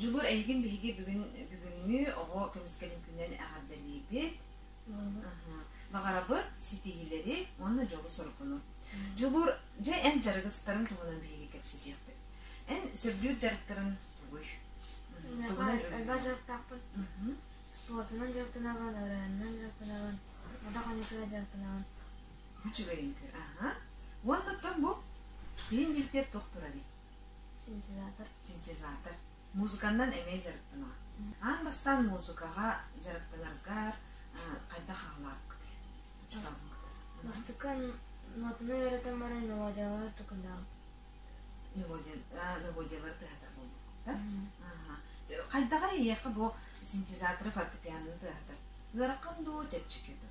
Дьулур эйигин биһиги бүгүн бүгүҥҥү оҕо көмүскэлин күнүнэн эҕэрдэлиибит. Баҕарабыт ситиһиилэри уонна дьолу-соргуну. Дьулуур, дьэ эн дьарыгыстарын туһунан биһиги кэпсэтиэхпит. Эн сөбүлүүр дьарыктарын тугуй? Тугунан элбэх дьарыктаахпын. Туотунан дьарыктанаҕын, ырыанынан дьарыктанаҕын, модах аньыытынан дьарыктанаҕын. Үчүгэй үҥкүү, аха. Уонна тоҥ бу биин диэктиэр туох турарый? синтезатор музыканнан эмиэ дьарыктанар аан бастаан музыкаҕа дьарыктанаргар хайдах аҕалаабыккытый мастыкан модну эрэтэн баран мелодиялар тукунаа мелодиялар тыһатар буолбуттар хайдаҕа эйиэхэ бу синтезаторы фортепиананы тыаһатар ыараххан дуу чэпчэки дуу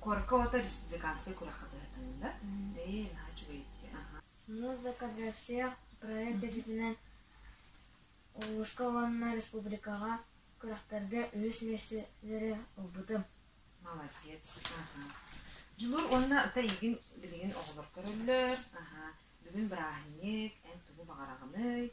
Корка ота республиканскай күрэххэ кыһатынна. Ээ, наһаа үчүгэй этэ. Музыка для всех проект дьиэтинэн улууска уонна республикаҕа күрэхтэргэ үһүс миэстэлэри ылбытым. Молодец. Дьулур уонна ата эйигин билигин оҕолор көрөллөр. Бүгүн бырааһынньык, эн тугу баҕараҕыный?